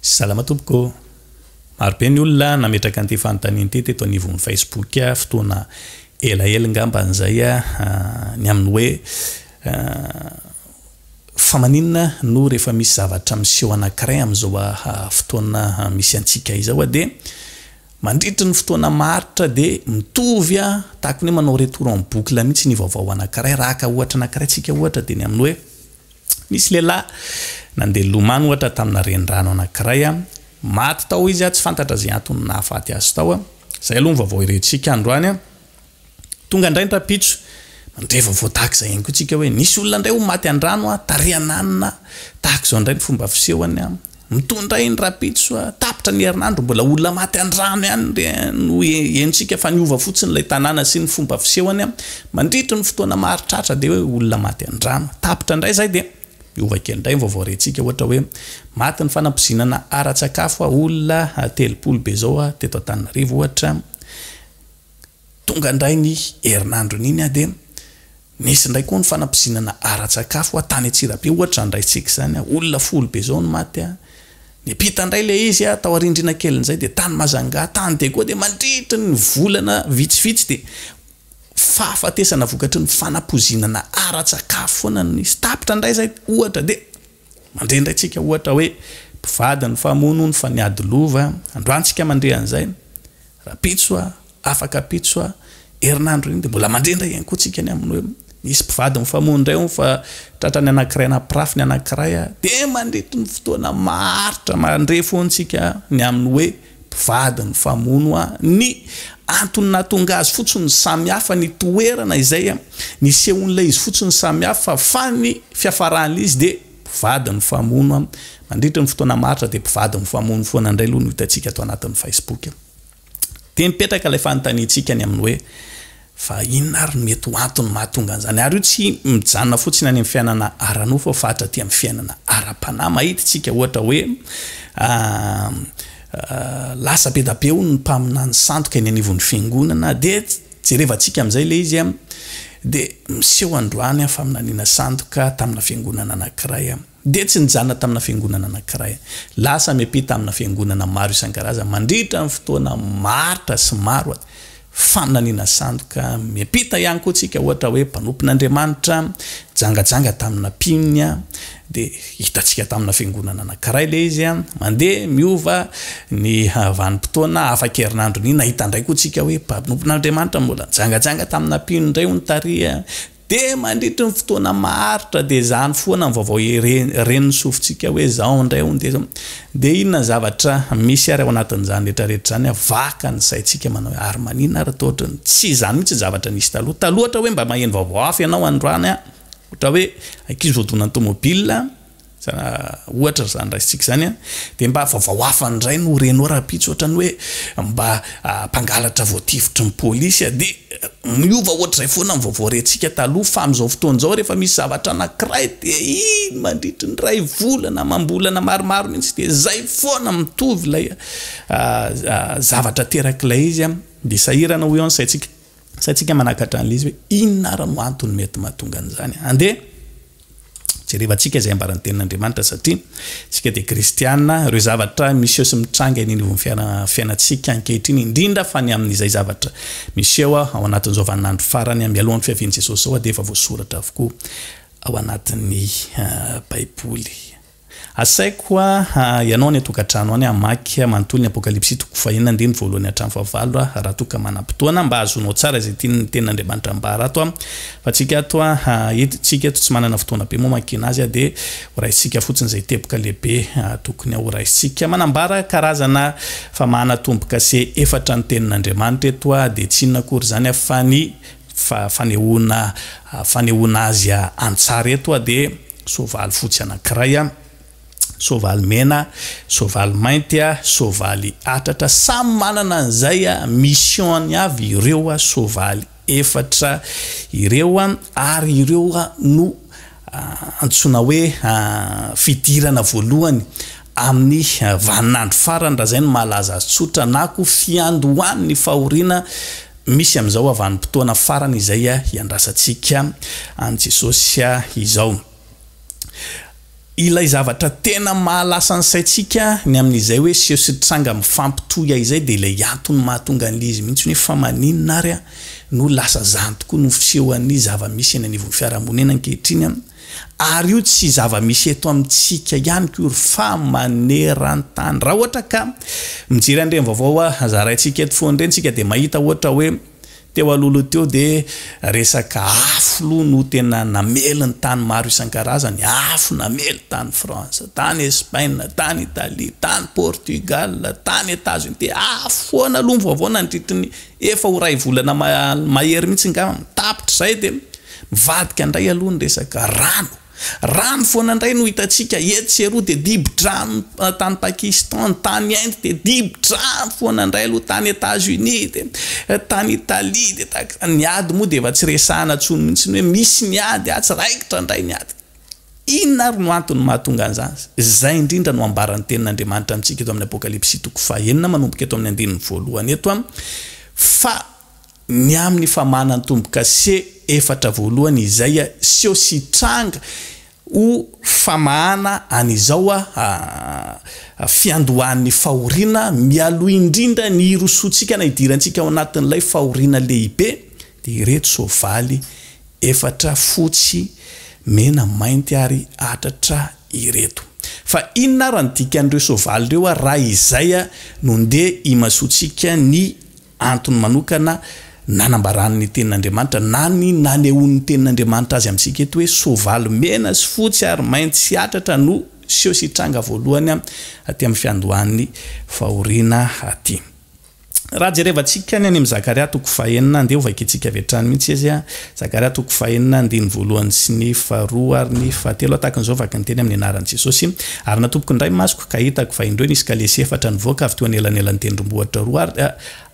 Salama tompoko. Maro be ny olona nametraka an'ity fanontaniana ity teto anivon'ny Facebook fotoana elaela ngamba izay ny amin'ny hoe fa maninona no rehefa misy zavatra miseho anankiray amin'izao fotoana misy antsika izao dia mandritry ny fotoana maharitra dia mitovy tahaka ny hoe manao retour en boucle mihitsy ny vaovao anankiray, raha ka ohatra anankiray tsika ohatra dia ny amin'ny hoe Nisy lehilahy nandeha nilomano ohatra tamina renirano anankiray, maty tao izy, tsy fantatra izay antony nahafaty azy tao. Izay aloha ny vaovao herentsika androany. Tonga indray ny rahampitso, mandre vaovao tahaka izay ihany koa isika hoe nisy olona indray ho maty an-drano, tarihan'anona, tahaka izao indray ny fomba fisehony. Mitondra iny rapitso a! Tapitra ny herinandro mbola olona maty andrano ihany re no henontsika fa niova fotsiny ilay tanàna sy ny fomba fisehony a! Mandritry ny fotoana maro tratra dia hoe olona maty andrano tapitra indray izay dia miova kely indray ny vaovao rentsika ohatra hoe maty ny fanampoizinana ara-tsakafo a! Olona telopolo be izao a! Teto Antananarivo ohatra tonga indray ny herinandron'iny a! Dia Nisy indray koa ny fanampizinana ara-tsakafo a, tany Antsirabe ohatra zany raisintsika izany a, olona folo be zao no maty a, nipita indray ilay izy a, tao Arindrina kelin'izay dia tany Majanga, tany Diego dia mandritry ny volana vitsivitsy dia fahafatesana vokatry ny fanampozinana ara-tsakafo foana no nisy, tapitra indray izay ohatra dia. Mandre indray tsika ohatra hoe mpivady ny famono ny fa niady lova androany tsika mandre an'izay rapitso a afaka pitso a herinandro iny de mbola mandre indray ihany koa tsika ny amin'ny hoe misy mpivady mifamono indray hono fa tratra ny anakiray nampirafy ny anakiray a de mandritry ny fotoana maharitra mandre foana tsika ny amin'ny hoe mpivady nifamono a! Ny antony nahatonga azy fotsiny no samy hafa ny toerana izay a! Nisehoan'ilay izy fotsiny samy hafa fa ny fiafaran'izy dia mpivady nifamono a! Mandritra ny fotoana maharitra dia mpivady mifamono foana indray aloha no hitantsika ato anatin'ny Facebook. Dia mipetraka ilay fanontaniantsika ny amin'ny hoe, Fa inona ary no mety ho antony mahatonga an'izany? Ary io tsy mijanona fotsiny any amin'ny fiainana ara-nofo fa fahatra aty amin'ny fiainana ara-panahy. Mahititsika ohatra hoe lasa be da be hono ny mpaminany sandoka eny anivon'ny fiangonana dia jerevantsika amin'izay ilay izy dia miseho androany faminaniana sandoka tamina fiangonana anankiray. dia tsy nijanona tamina fiangonana anankiray. Lasa miampita amina fiangonana maro isan-karazany mandritra ny fotoana maharitra sy maro aty. Faminaniana sandoka. Miampita ihany koa tsika ohatra hoe mpanompon'Andriamanitra jangajanga tamina mpino dia hitantsika tamina fiangonana anankiray ilay izy mandeha miova ny vanim-potoana afa-kerinandro ny nahita indray koa tsika hoe mpanompon'Andriamanitra mbola jangajanga tamina mpino indray hono tary Dia mandritry ny fotoana maharitra dia izany foana ny vaovao ren'ny sofintsika hoe izao indray hono dia izao. Dia inona ny zavatra misy ary ao anatin'izany rehetrarehetra izany a? Vaka ny saintsika manao hoe ary maninona ary toa ohatran'ny tsy izany mihitsy ny zavatra nisy taloha. Taloha ohatra hoe mba maheno vaovao hafa ianao androany a, ohatra hoe ankizy voadonan'ny tomobile, Ohatra izany raisintsika izany an, dia mba vaovao hafa indray no renao rahampitso ohatrany hoe mba mpangalatra voatifitry ny polisy an, dia miova ohatr'izay foana ny vaovao rentsika taloha fa amin'izao fotoana izao rehefa misy zavatra anankiray dia iny mandritry ny iray volana, amam-bolana maromaro mihitsy dia izay foana mitovy ilay zavatra aterak'ilay izy an, dia sahirana hoy aho ny saintsika. Sa tsika manakatra an'ilay izy hoe inona ary no antony mety mahatonga an'izany? Andeha jerevantsika izay ambaran'ny tenin'Andriamanitra satria tsika dia kristiana, ireo zavatra miseho sy mitranga eny anivon'ny fiainantsika ankehitriny indrindra fa ny amin'izay zavatra miseho ao anatin'izao vaninandro farany mialohan'ny fiavian'i Jesosy izao dia efa voasoratra avokoa ao anatin'ny baiboly. Asaiko aho ianao any an-tokantrano any hamaky manontolo ny Apokalypsy toko fahenina andininy voalohany hatramin'ny fahavalo aho raha toa ka manam-potoana mba hahazoanao tsara izay tian'ny Tenin'Andriamanitra ambara ato aho fa tsika ato eto tsika eto tsy manana fotoana be mamakiana azy aho dia horaisintsika fotsiny izay teboka lehibe tokony horaisintsika manambara karazana famahana tombo-kase efatra ny Tenin'Andriamanitra eto aho dia tsy inona akory izany aho fa ny fanehoana fanehoana azy an-tsary eto aho dia soavaly fotsy anankiray a, soavaly mena, soavaly mainty a, soavaly atratra, samy manana an'izay a mission-ny avy ireo a soavaly efatra ireo a, ary ireo a no antsoina hoe fidirana voalohany amin'ny vanin'andro farany raha izay no mahalaza azy tsotra na koa fiandohan'ny fahoriana Misy amin'izao ho avanim-potoana farany izay hiandrasantsika an'i Jesosy izao. Ilay zavatra tena mahalasa ny saintsika ny amin'izay hoe seho sy tranga mifampitohy aizay dia ilay antony mahatonga an'ilay izy mihitsy hoe fa maninona ary no lasa izany tokoa no fisehoan'ny zava-misy eny anivon'ny fiarahamonina ankehitriny? Ary io tsy zava-misy eto amintsika ihany koa ry fa maneran-tany. Raha ohatra ka mijery an'ireny vaovao zaraintsika eto foana ireny isika dia mahita ohatra hoe teo alohaloha teo dia resaka afo loha no tena namely ny tany maro isan-karazany, afo namely tany France, tany Espaina, tany Italia, tany Portugal, tany Etazonia, dia afo foana aloha ny vaovao nandritry ny Efa ho ray volana mahery mihitsy ngah tapitra zay de mivadika ndray aloha ny resaka rano. Rano foana ndray no hitantsika etsy sy eroa de dibo-drano tany Pakistan, tany Inde de dibo-drano foana ndray aloha, tany Etats Unis de tany Italie de tahaka izany. Ny ady moa de efa tsy resahana tsony mihitsy ny hoe misy ny ady atsy, raikitra ndray ny ady. Inona àry no antony mahatonga an'izany? Izay indrindra no ambaran'ny Tenin'Andriamanitra amintsika eto amin'ny Apokalypsy toko fahenina, manomboka eto amin'ny andininy voalohany eto, fa ny amin'ny famanan'ny tombo-kase efatra voalohany izay hiseho sy hitranga ho famahana an'izao fiandohan'ny fahoriana mialoha indrindra ny hirosoantsika na hidirantsika ao anatin'ilay fahoriana lehibe, dia ireto soavaly Efatra fotsy, mena, mainty ary atratra ireto. Fa inona ary ny dikan'ireo soavaly ireo ary raha izay no ndeha imasoantsika ny antony manokana nanambaran'ny Tenin'Andriamanitra na ny nanehoan'ny Tenin'Andriamanitra azy amintsika eto hoe soavaly mena sy fotsy ary mainty sy atratra no seho sy hitranga voalohany aty amin'ny fiandohan'ny fahoriana aty? Raha jerevantsika ny any amin'i Zakaria toko fahenina, andeha ho vakintsika avy hatrany mihitsy izy a. Zakaria toko fahenina, andininy voalohany sy ny faharoa ary ny fahatelo, tahakan'izao vaky ny teny amin'ny anaran'i Jesosy, Ary natompoko indray ny masoko, ka hitako, fa indreo nisy kalesy efatra nivoaka avy teo anelanelan'ny tendrombohitra roa, ary,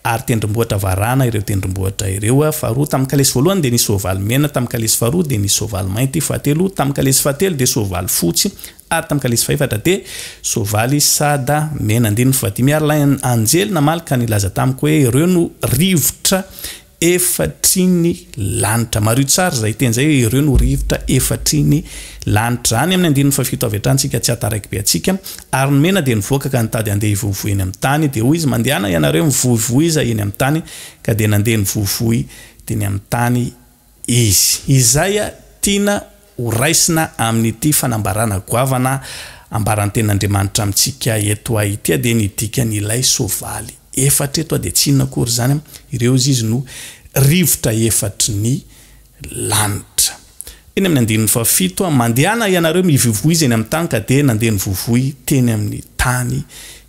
ary tendrombohitra varahana ireo tendrombohitra ireo, faharoa, tamin'ny kalesy voalohany dia nisy soavaly mena, tamin'ny kalesy faharoa dia nisy soavaly mainty, fahatelo, tamin'ny kalesy fahatelo dia soavaly fotsy, Ary tamin'ny kalesy fahefatra dia soavaly sada mena andininy faha dimy ary ilay anjely namaly ka nilaza tamiko hoe, Ireo no rivotra efatry ny lanitra. Mariho tsara izay teny izay hoe ireo no rivotra efatry ny lanitra. Any amin'ny andininy faha fito avy hatrany isika tsy hahataraiky be antsika. Ary ny mena dia nivoaka ka nitady handeha hivohivohy eny amin'ny tany. Dia hoy izy, Mandehana ianareo mivohivohiza eny amin'ny tany. Ka dia nandeha nivohivohy teny amin'ny tany Izy. Izay tiana ho raisina amin'ity fanambarana goavana ambaran'ny Tenin'Andriamanitra amintsika eto Haitia dia ny dikan'ilay soavaly efatra eto dia tsy inona akory izany, ireo izy izy no rivotra efatry ny lanitra. Eny amin'ny andininy fahafito, Mandehana hianareo mivoivoy izy eny amin'ny tany ka dia nandeha nivoivoy teny amin'ny tany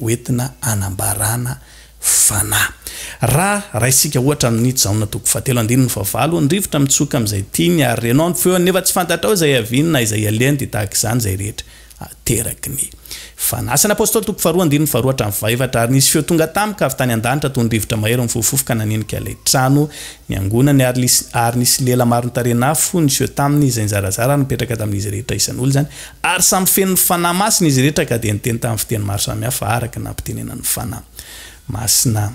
hoentina hanambarana fanahy. Raha raisintsika ohatra amin'i Jaona toko fahatelo andininy fahavalo, ny rivotra mitsoka amin'izay tiany ary renao ny feony nefa tsy fantatrao izay ihaviany na izay ialehany dia tahaka izany izay rehetra ateraky ny fanahy. Asan'ny Apostoly toko faharoa andininy faharoa hatramin'ny fahaefatra Ary nisy feo tonga tamiko avy tany an-danitra toy ny rivotra mahery mifohofofo ka nanenika ilay trano niangonany ary ary nisy lela maron-tarehin'afo niseho taminy izay nizarazara ary nipetraka tamin'izy rehetra isan'olona izany Ary samy feno ny Fanahy Masina izy rehetra ka dia niteny tamin'ny fiteny maro samihafa araka ny nampitenenan'ny Fanahy Masina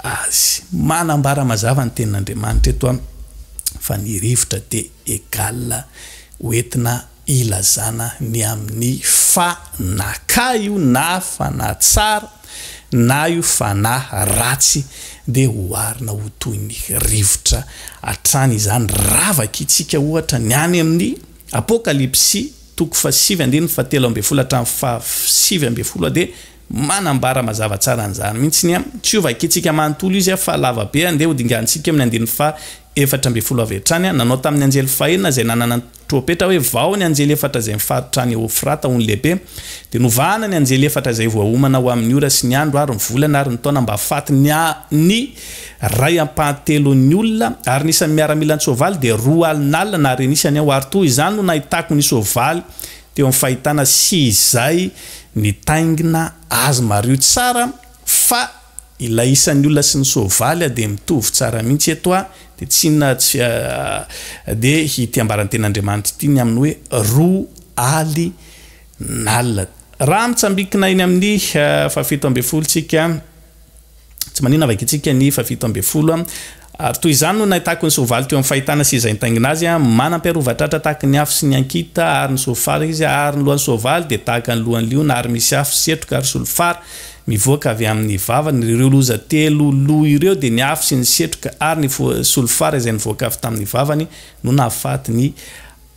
azy. Manambara mazava ny Tenin'Andriamanitra eto fa ny rivotra dia égal ho entina ilazana ny amin'ny Fanahy ka io na Fanahy tsara na io Fanahy ratsy dia oharina ho toy ny rivotra hatrany izany. Ravaky tsika ohatra ny any amin'ny. Apokalypsy toko fahasivy andininy fahatelo ambin'ny folo hatramin'ny fahasivy ambin'ny folo dia manambara mazava tsara an'izany mihitsy ny tsy ho vakintsika manontolo izy fa lava be andeha hodinganintsika eo amin'ny andininy faha efatra ambin'ny folo avy hatrany nanao tamin'ny anjely fahenina izay nanana ny trompetra hoe vao ny anjely efatra izay mifaritra any eofrata ho ny lehibe dia novahana ny anjely efatra izay voaomana ho amin'ny ora sy ny andro ary ny volana ary ny taona mba hahafaty ny Ray ampahatelon'ny olona, ary ny isan'ny miaramila an-tsoavaly dia roa alina alina na harena isany aho, ary toa izany no nahitako ny soavaly teo amin'ny fahitana sy izay nitaingina azy. Mariho tsara fa ilay isan'ny olona sy ny soavaly dia mitovy tsara mihitsy eto a, dia tsy inona tsy fa dia ity ambaran'ny Tenin'Andriamanitra ity ny amin'ny hoe roa ali na alina. Raha mitsambikina eny amin'ny fahafito ambin'ny folo tsika, Tsy maninona avy ankintsika ny fahafito ambin'ny folo a. Ary toy izany no nahitako ny soavaly teo amin'ny fahitana sy izay nitaingina azy a. Manam-piarova tratra tahaky ny afo sy ny ankita ary ny soavaly izy a, ary ny lohan'ny soavaly dia tahaka ny lohan'ny liona ary misy afo, setroka ary solifara mivoaka avy amin'ny vavany. Ireo loza telo lo ireo dia ny afo sy ny setroka ary ny solifara izay nivoaka avy tamin'ny vavany no nahafaty ny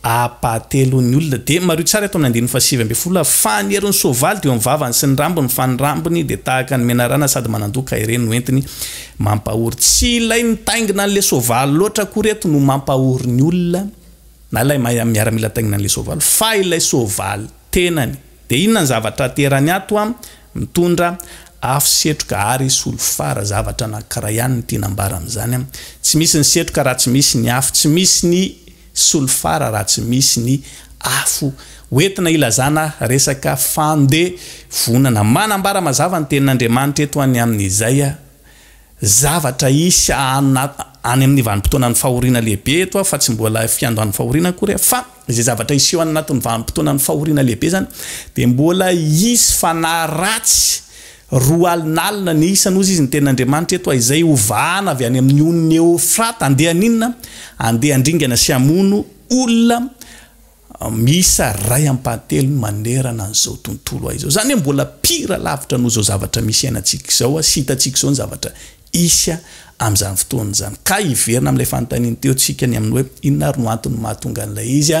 Ampahatelon'ny olona dia mariho tsara eto amin'ny andininy fahasivy ambin'ny folo ary fany herin'ny soavaly dia eo amin'ny vavany sy ny rambony fa ny rambony dia tahaka ny menarana sady manandoha ka ireny no entiny mampahory. Tsy ilay mitaingina an'ilay soavaly loatra akory eto no mampahory ny olona na ilay miaramila mitaingina an'ilay soavaly fa ilay soavaly tenany. Dia inona ny zavatra aterany ato an? Mitondra afo, setroka ary solifara. Zavatra anankiray ihany no tiana ambara amin'izany an. Tsy misy ny setroka raha tsy misy ny afo. Tsy misy ny solifara raha tsy misy ny afo hoentina hilazana resaka fandevonana. Manambara mazava ny Tenin'Andriamanitra eto any amin'izay zavatra hisy any amin'ny vanim-potoanan'ny fahoriana lehibe eto fa tsy mbola fiandohan'ny fahoriana akory fa izay zavatra hiseho any anatin'ny vanim-potoanan'ny fahoriana lehibe izany dia mbola hisy fanahy ratsy Roa alina alina ny isany, hozy izy, ny tenin'Andriamanitra eto, izay ho vahana avy any amin'ny onin'i Eofrata. Andeha haninona? Andeha handringana sy hamono olona miisa iray ampahatelony manerana an'izao tontolo izao. Izany hoe mbola pire lavitra noho izao zavatra misy iainantsika izao sy hitantsika izao ny zavatra hisy amin'izany fotoana izany. Ka hiverina amin'ilay fanontanian'ny teo tsika ny amin'ny hoe inona ary no antony mahatonga an'ilay izy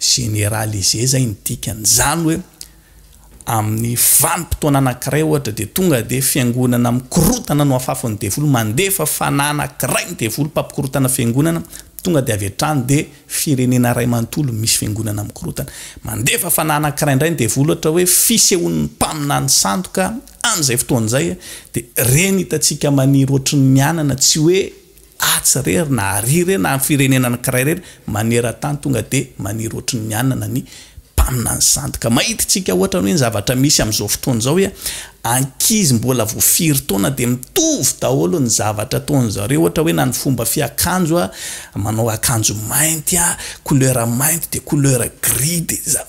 généralisé zay ny dikany. Zany hoe amin'ny vanim-potoana anankiray ohatra dia tonga dia fiangonana mikorotana no afafon'ny devoly, mandefa fanahy anankiray ny devoly mpampikorotana fiangonana, tonga dia avy hatrany dia firenena iray manontolo misy fiangonana mikorotana. Mandefa fanahy anankiray indray ny devoly ohatra hoe fisehoan'ny mpaminany sandoka an'izay fotoana izay dia ireny hitantsika maniry ohatry ny mianana tsy hoe atsy irery na àry irery na ny firenena anankiray irery maneran-tany tonga dia maniry ohatry ny hanana ny mpaminany sandoka. Mahita isika ohatra ny hoe ny zavatra misy amin'izao fotoana izao hoe ankizy mbola vao firy taona dia mitovy daholo ny zavatra ataon'ny zareo ohatra hoe na ny fomba fiakanjo manao akanjo mainty couleur mainty dia couleur gris dia za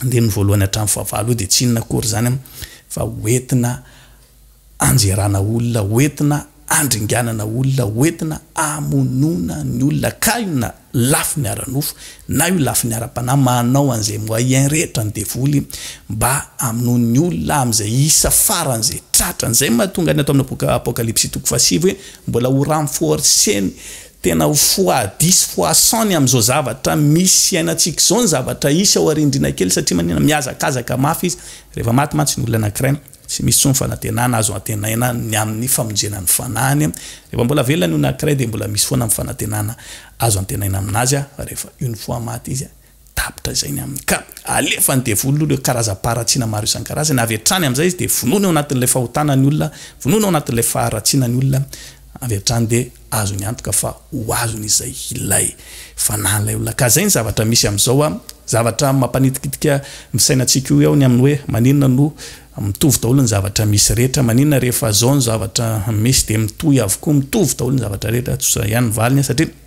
andininy voalohany hatramin'ny fahavalo io dia tsy inona akory izany fa hoentina anjerana olona, hoentina andringanana olona, hoentina amonoana ny olona ka io na lafiny ara-nofo na io lafiny ara-panahy manao an'izay moyen rehetra ny devoly mba hamonoany ny olona amin'izay isa farany izay tratrany. Izay no mahatonga ny ato amin'ny boky Apokalypsy toko fahasivy hoe mbola ho renforcer-ny Tena ho foadis sy foasan ny amin'izao zavatra misy iainantsika izao ny zavatra hisy ao arindrina kely satria maninona mihazakazaka mafy izy rehefa maty mantsy ny olona anankiray tsy misy intsony fanantenana azo antenaina ny amin'ny famonjena ny fanahiny rehefa mbola velona ny olona anankiray dia mbola misy foana ny fanantenana azo antenaina aminazy fa rehefa une fois maty izy Tapitra izay ny aminy ka. Alefan'ny devoly aloha ireo karazam-paharatsiana maro isan-karazany, avy hatrany amin'izay izy dia vonoiny ao anatin'ilay fahotana ny olona, vonoiny ao anatin'ilay faharatsiana ny olona, avy hatrany dia azony antoka fa ho azony izay ilay fanahin'ilay olona. Ka izay ny zavatra misy amin'izao an! Zavatra mampanitikitika ny sainantsika io eo ny amin'ny hoe maninona no mitovy daholo ny zavatra misy rehetra, maninona rehefa izao ny zavatra misy dia mitohy avokoa, mitovy daholo ny zavatra rehetra, tsotra ihany ny valiny an! Satria.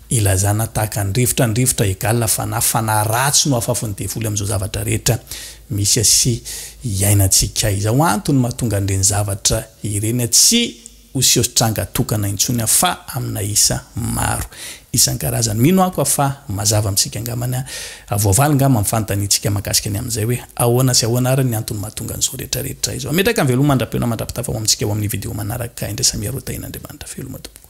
Ilazana tahaka ny rivotra ny rivotra egal fanahy, fanahy ratsy no afafon'ny devoly amin'izao zavatra rehetra misy sy iainantsika izao, antony mahatonga an'ireny zavatra ireny tsy ho seho sy tranga tokana intsony fa amina isa maro isan-karazany, mino ako fa mazava amintsika angambany, voavaly ngamba amin'ny fanontaniantsika mahakasika ny amin'izay hoe ahoana sy ahoana ary ny antony mahatonga an'izao rehetra rehetra izao, ametraka ny veloma mandra-peo na mandra-pitafa ho amintsika ao amin'ny video manaraka, indrasamiharoa tahin'Andriamanitra veloma tompoko.